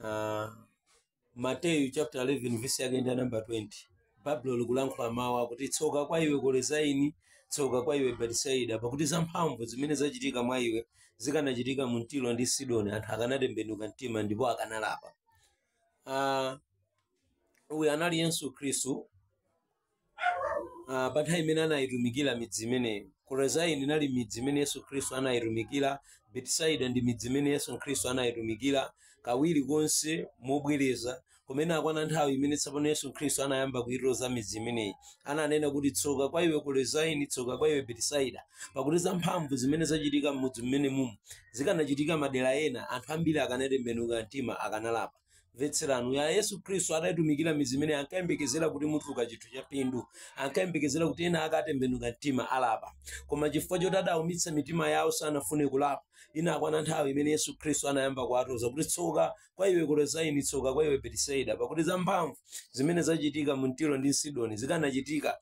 uh, mateyu chapter 11 verse yake ndi namba 20 baibulo likulankhula mawu akuti tsoka kwa iwe kolezaini tsoka kwa iwe betisaida pakuti zamphamvu zimene zachitika mwa iwe zikanachitika mu tiro ndi sidoni anthu akanatembenuka mtima ndipo akanalapa uh, uyu anali yesu khristu Ah, pa nthawi imene anayitumikira midzi imeneyo korazaini inali midzi imene yesu khristu anayitumikira betisaida ndi midzi imene yesu khristu anayitumikira kawiri konse mobwereza komano itakwana nthawi imene tsopano yesu khristu anayamba kuyitoza midzi imeneyi ananena kuti tsoka kwa iwe korazaini tsoka kwa iwe betisaida pakuti za mphamvu zimene zachitika m'mudzi mmenemumu zikanachitika madera ena anthu ambiri akanatembenuka mtima akanalapa mvetserani uyu yesu khristu adayitumikira midzi imeneyi ankayembekezera kuti mutuluka chinthu cha phindu ankayembekezera kuti ena ake atembenuka mtima alapa koma chifukwa choti adaumitsa mitima yawo sanafune kulapa inakwana nthawi imene yesu khristu anayamba kuwatoza kuti tsoka kwa iwe korezayini tsoka kwa iwe betisaida pakuti zamphamvu zimene zachitika mu tiro ndi sidoni zikanachitika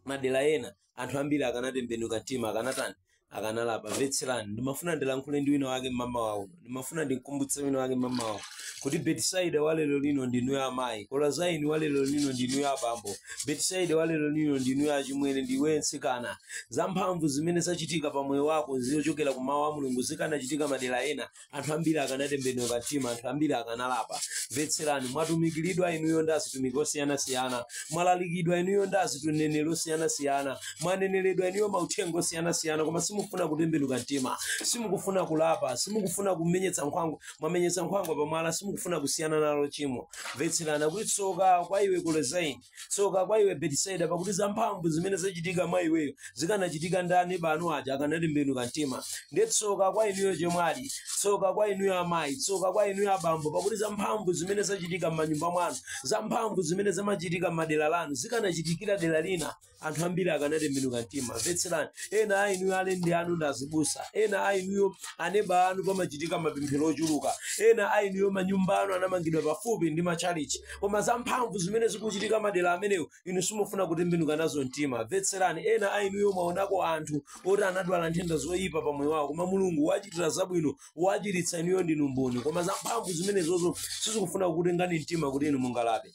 madera ena anthu ambiri akanatembenuka mtima akanatani akanalapa mvetserani ndimafuna ndilankhule ndi wina wake mmawa uno ndimafuna ndimkumbutse wina wake mmawa uno kuti betisaida wa lero lino ndinuyo amayi kolazaini wa lero lino ndinuyo abambo betisaida wa lero lino ndinuyo achimwene ndiwe mtsikana zamphamvu zimene zachitika pa moyo wako zochokera ku mawu a mulungu zikanachitika madera ena anthu ambiri akanatembenuka mtima anthu ambiri akanalapa mvetserani mwatumikiridwa inuyo ndi azitumiki osiyanasiyana mwalalikidwa inuyo ndi azituneneri osiyanasiyana mwaneneredwa inuyo mauthenga osiyanasiyana koma simufuna kutembenuka mtima simukufuna kulapa simukufuna kumenye- nkhwangwa mwamenyetsa nkhwangwa pamwala simukufuna kusiyana nalo chimo mvetserani akuti tsoka kwa iwe kolezaini tsoka kwa iwe betisayida pakuti zamphamvu zimene zachitika mwa iweyo zikanachitika ndi aneba anu aja akanatembenuka mtima ndiye tsoka kwa inuyo chemwali tsoka kwa inuyo amayi tsoka kwa inuyo abambo pakuti zamphamvu zimene zachitika m'manyumba mwanu zamphamvu zimene zimachitika m'dera lanu zikanachitikira dera lina anthu ambiri akanatembenuka mtima mvetserani ena a inuyo alendi anu ndi azibusa ena a inuyo aneba anu pamachitika mapemphero ochuluka ena a inuyo manyumba anu anamangidwa pafupi ndi matchalichi koma za mphamvu zimene zikuchitika madera amenewo inu simufuna kutembenuka nazo mtima mvetserani ena a inuyo mwaonako anthu oti anadwala nthenda zoyipa pa moyo wawo koma mulungu wachitira zabwino wachiritsa inuyo ndinu mboni koma za mphamvu zimenezozo sizikufuna kukutengani mtima kuti inu mulape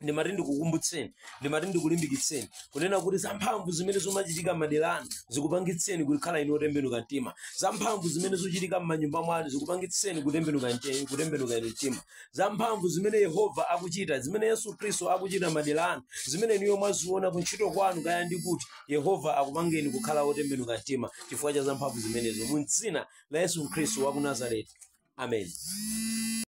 ndimati ndikukumbutseni ndimati ndikulimbikitseni kunena kuti zamphamvu zimene zomachitika madera anu zikupangitseni kukhala inu otembenuka mtima zamphamvu zimene zochitika m'manyumba mwanu zikupangitseni kutembenuka mte- kutembenuka inu mtima za mphamvu zimene yehova akuchita zimene yesu khristu akuchita madera anu zimene inuyo mwaziona kuntchito kwanu kaya ndi kuti yehova akupangeni kukhala wotembenuka mtima chifukwa cha za mphamvu zimenezo mu dzina la yesu khristu wa ku nazareti amen